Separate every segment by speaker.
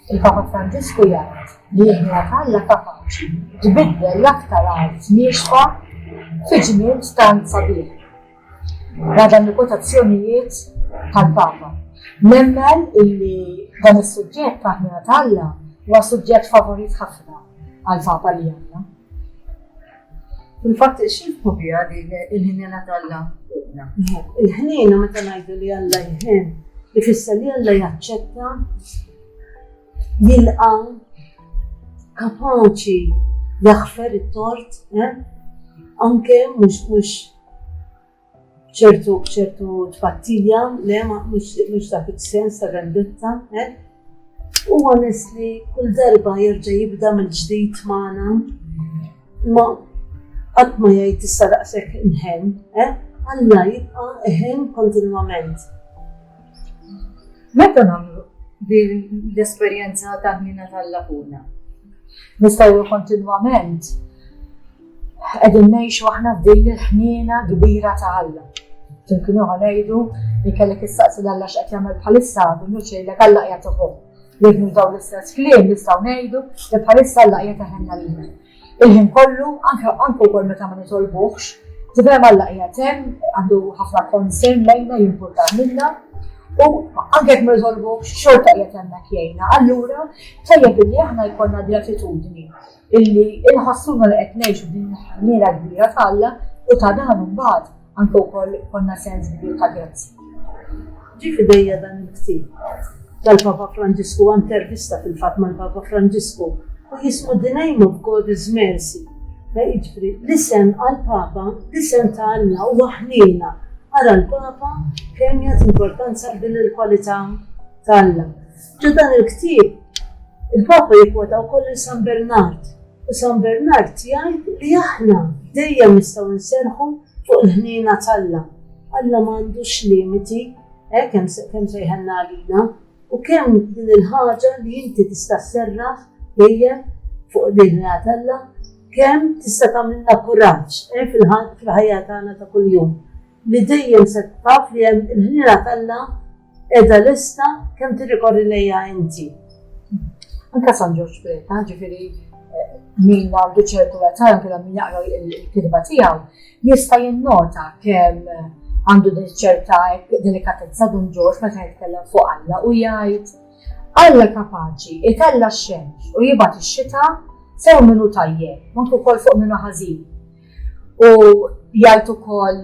Speaker 1: Il-Papa Franġisku jgħid li l-ħna Alla kapaċi tbiddel l-aktar art niexfa fi ġnien tant sabiħ. Għadan li kotazzjonijiet tal-Papa. Nemmen illi dan is-suġġett ta' ħna Alla huwa suġġett favorit ħafna għal-Papa li għandna. Fil-fatt, xifku bija din il-ħinjena tal-la fuqna? Il-ħnina meta ngħidu li Alla jħin, ifisser li Alla jaċċetta, jilqa, kapaċi jaħfer it-tort, eh? anke mhux mhux ċertu ċertu tpattija, le ma mhux dak is-sens ta' vendetta, eh? U għanis li kull darba jerġa' jibda mill-ġdid magħna, ma qatt ma jgħid issa daqshekk inħen, eh? Alla jibqa' eħen kontinwament. Meta nagħmlu l-esperjenza ta' ħnina tal-lakuna? Nistgħu kontinwament Qegħdin ngħixu aħna f'din il-ħniena kbira ta' Alla. Ġimkien oħra ngħidu li kellek issaqsi l Alla x'qed jagħmel bħalissa minnu xejlek Alla qiegħed uħu. Jibnu dawn l-istess kliem nistgħu ngħidu li bħalissa Alla qiegħed iħenna lilna. Il-ħin kollu, anke anke wkoll meta ma nitolbuhx, tibhem Alla qiegħed hemm għandu ħafna konsern lejna jimpurta minna u anke jekk ma nitolbuhx xorta qiegħed hemmhekk jgħinna. Allura tajjeb li aħna jkollna gratitudni Illi inħassuna li qed ngħixu f'din il-ħniena kbira t'Alla u ta' dan imbagħad anke wkoll ikollna sens kbir ta' grazzja. Ġie f'idejja dan il-ktieb tal-Papa Franġisku, intervista fil-fatt mal-Papa Franġisku, u jismu The Name of God is Mercy, jiġifieri l-isem għall-Papa, l-isem ta' Alla huwa ħniena. Ara l-Papa kemm jagħti importanza għal din il-kwalità t'Alla. Ġo dan il-ktieb, il-Papa jikwota wkoll lil San Bernard, u San Bernard jgħid li aħna dejjem nistgħu nserħu fuq il-ħniena t'Alla. Alla m'għandux limiti, eh, kemm kemm sejħenna għalina, u kemm din il-ħaġa li inti tista' sserraħ dejjem fuq din Alla, kemm tista' tagħmilna kuraġġ eh, fil-ħajja tagħna ta' kuljum li dejjem se taf li hemm il-ħniena t'Alla Edha lista kemm tirrikorri lejja inti. Anka San Ġorġ Preta, ġifiri eh, min għandu ċertu għatar kien min jaqra l-kitba tiegħu, jista' jinnota kemm eh, għandu din ċerta delikatezza dun Ġorġ meta jitkellem fuq Alla u jgħid Alla kapaċi itella x-xemx u jibgħat ix-xita sew minnu tajjeb, ma kol fuq minnu ħażin. U jgħid ukoll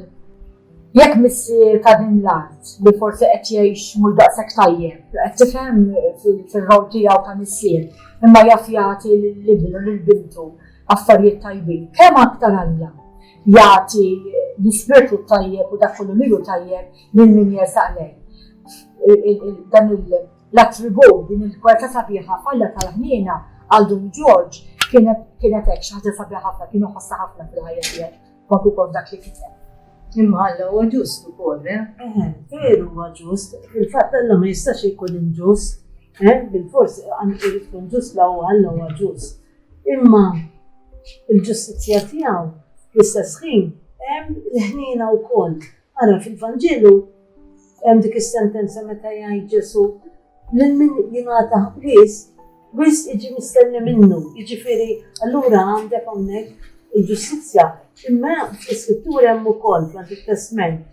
Speaker 1: Jekk missier ta' din l-art li forsi qed jgħix mhux daqshekk tajjeb, qed tifhem fir-rol tiegħu ta' missier, imma jaf jagħti lil ibnu, lil bintu affarijiet tajbin, kemm aktar Alla jagħti l-ispirtu t-tajjeb u dak kollu li hu tajjeb lil min jersaq lejh. Dan l-attribut, din il-kwalità sabiħa f'Alla tal-ħniena għal Dun Ġorġ kienet hekk xi ħaġa sabiħa ħafna, kien iħossha ħafna fil-ħajja tiegħu. Dak ukoll dak li kiteb. Imma Alla huwa ġust ukoll, eh? Eħe, veru huwa ġust. Fil-fatt Alla ma jistax ikun inġust. Eh? Bil-fors għandu jkun ġust la huwa Alla huwa ġust. Imma il-ġustizzja tiegħu fl-istess ħin hemm il-ħnina wkoll. Ara fil-Vanġelu hemm dik is-sentenza meta jgħid Ġesù lil min jingħata ħbies wisq jiġi mistenni minnu. Jiġifieri allura għandek hawnhekk il-ġustizzja. Imma fl-iskrittura hemm ukoll fl it-testment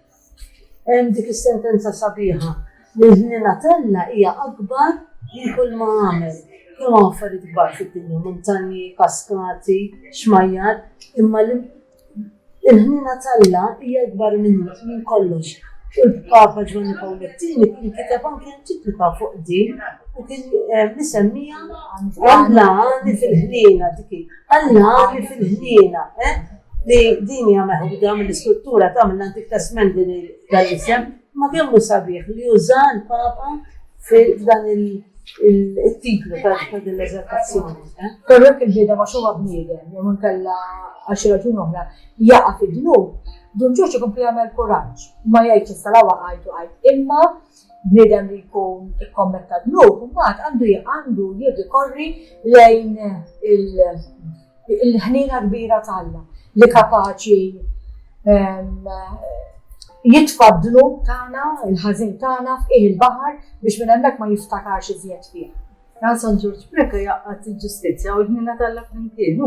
Speaker 1: hemm dik is-sentenza sabiħa li l-ħnina talla hija akbar li kull ma għamel. Kemm affarijiet kbar fid-dinja, muntanji, kaskati, xmajjar, imma Il-ħniena t'Alla hija ikbar minn ħut, minn kollox. U l-Papa Ġwanni Pawl it-Tieni kien kiteb anki enċiklika fuq din u kien misemmija Alla għani fil-ħniena dik hi. Alla għani fil-ħniena. Li din hija meħuda mill-iskrittura ta' mill-Antik Testment din dan l-isem. Ma kemm hu sabiħ li uża l-Papa f'dan il-titlu ta' din l-eżaltazzjoni. Eh? Però jekk il-ġieda ma xogħol bniedem, jew inkella għal xi raġun oħra, jaqa' fid-dnub, Dun Ġorġ ikun jagħmel kuraġġ, ma jgħidx issa la waqajtu għajt, imma bniedem li jkun ikkommetta dnub, mbagħad għandu għandu jirrikorri lejn il- Il-ħniena kbira ta' Alla li kapaċi jitfa' d-dnub tagħna, il-ħażin tagħna f'qiegħ il-baħar biex minn hemmhekk ma jiftakarx iżjed fih. Dan San Ġorġ Preca jaqgħad il-ġustizzja u l-ħniena ta' Alla flimkien.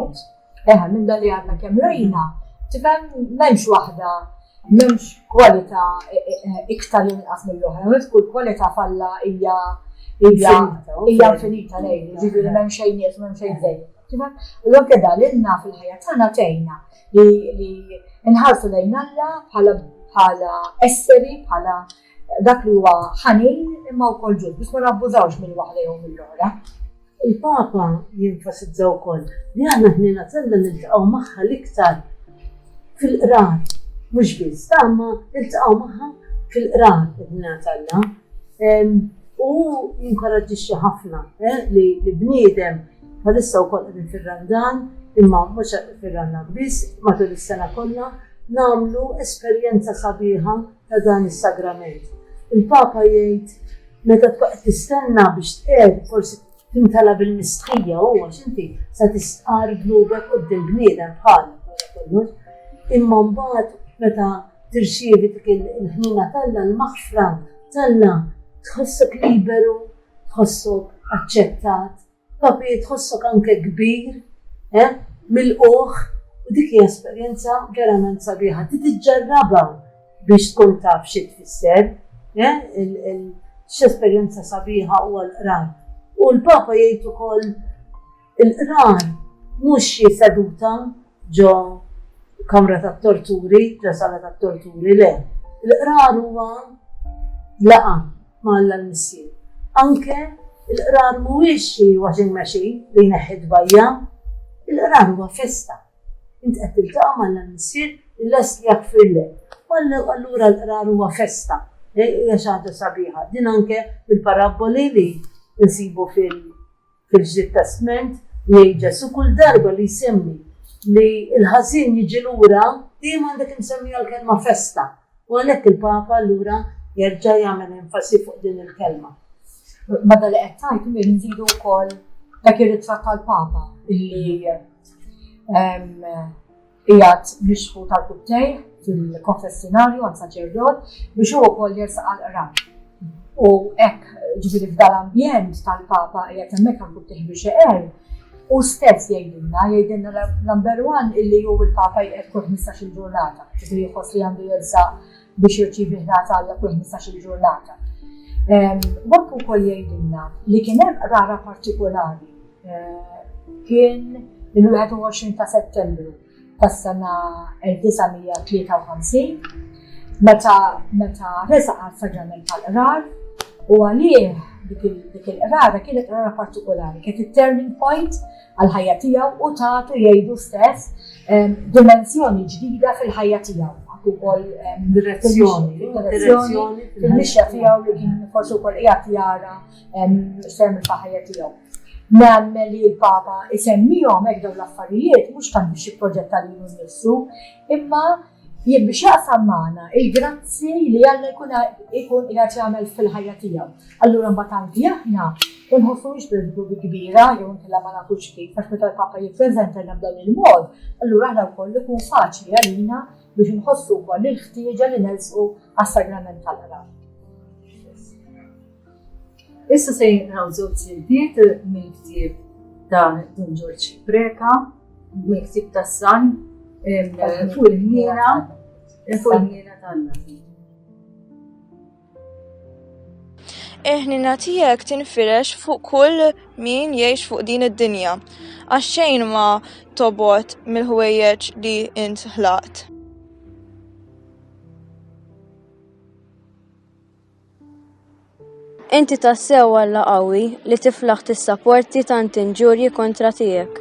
Speaker 1: Eħe, minn dan li għadna kemm rajna, tifhem m'hemmx waħda M'hemmx kwalità iktar jew inqas mill-oħra, u kull kwalità f'Alla hija hija infinita lejn, jiġifieri m'hemm xejn nieqes u m'hemm xejn żejjed. Tifhem? U anke dan lilna fil-ħajja tagħna tgħinna li nħarsu lejn Alla bħala bħala esseri, bħala Dak li huwa ħanin imma wkoll ġust biex ma nabbużawx minn waħda jew mill-oħra. Il-Papa jenfasizza wkoll li aħna ħniena kellna niltaqgħu magħha l-iktar fil-qrar, mhux biss, imma niltaqgħu magħha fil-qrar id-dinja tagħna. U jinkoraġġixxi ħafna eh, li bniedem bħalissa wkoll qegħdin fir-Randan, imma mhux fir-Randan biss, matul is-sena kollha, nagħmlu esperjenza sabiħa ta' dan is-sagrament. Il-Papa jgħid, meta tbqa' qed tistenna biex tqiegħed, forsi timtela bil-mistħija u għax inti se tistqar dnubek quddiem bniedem bħal Imma mbagħad meta tirċievi dik il-ħnina talla l-maħfra talla tħossok liberu, tħossok aċċettat. Papi, tħossok anke kbir, eh, milqugħ, u dik hija esperjenza verament sabiħa. Trid iġġarrabha biex tkun taf xi tfisser, eh, x'esperjenza sabiħa huwa l-qrar. U l-Papa jgħid ukoll il-qrar mhux xi seduta ġo kamra tat-torturi, ġo sala tat-torturi, le. Il-qrar huwa laqa. ma' Alla l-Missier. Anke l-Qrar mhuwiex xi washing machine li jneħħi t-tbajja'. Il-Qrar huwa festa. Int qed tiltaqa' ma' Alla l-Missier li lest li jaħfirlek. U allura l-Qrar huwa festa. Hija xi ħaġa sabiħa. Din anke fil-parabboli li nsibu fil. Kif żied testment, jgħid Ġesù, kull darba li jsemmi li l-ħażin jiġi lura, dejjem għandek imsemmija l-kelma festa, u għalhekk il-Papa allura jerġa' jagħmel enfasi fuq din il-kelma. Meta li qed tgħid li nżidu wkoll dak ir-ritratt tal-Papa illi ehm, Qiegħed mixħut għal pubtejh fil-konfessinarju għand saċerdot biex hu wkoll jersaq għall-qrab. U hekk, ġifieri f'dal-ambjent tal-Papa qiegħed hemmhekk għal pubtejh biex iqer, hu stess jgħidilna, jgħidilna number one illi hu l-Papa jqegħed kull 15-il ġurnata, ġifieri jħoss li għandu jersaq biex jirċievi ħlas għal dak kull 15-il ġurnata. Waqt ukoll jgħidilna li kien hemm qrara partikolari eh, kien il-21 ta' Settembru tas-sena 1953 meta meta resa għal saġġament tal-qrar u għalih dik il-qrara kienet qrara partikolari, kienet il-turning point għall-ħajja tiegħu u tagħtu jgħidu stess dimensjoni ġdida fil-ħajja tiegħu. Għak ukoll direzzjoni, direzzjoni fil-mixja tiegħu li kien forsi wkoll qiegħed jara xem il-ħajja tiegħu. Nagħmel li l-Papa isemmihom hekk dawn l-affarijiet mhux tant biex jipproġetta lilu nnifsu, imma Jien biex jaqsam magħna il-grazzi li Alla jkun ikun qiegħed jagħmel fil-ħajja tiegħu. Allura mbagħad anki aħna ma nħossuhiex bil-ħdud il-kbira jew inkella ma nafux kif għax meta l-Papa jippreżentalna b'dan il-mod, allura aħna wkoll ikun faċli għalina biex inħossu wkoll il-ħtieġa li nersqu għas-Sagrament tal-Qrab. Issa se jinqraw żewġ siltiet mill-ktieb ta' Dun Ġorġ Preka, mill-ktieb ta' San, fuq il-ħniena, fuq il-ħniena tal-Nabi. Eħnina tijek tinfirex fuq kull min jiex fuq din id-dinja, għaxxejn ma tobot mill-ħwejjeġ li int ħlaqt. Inti tassew Alla qawwi li tiflaħ tissaporti tant inġurji kontra tiegħek.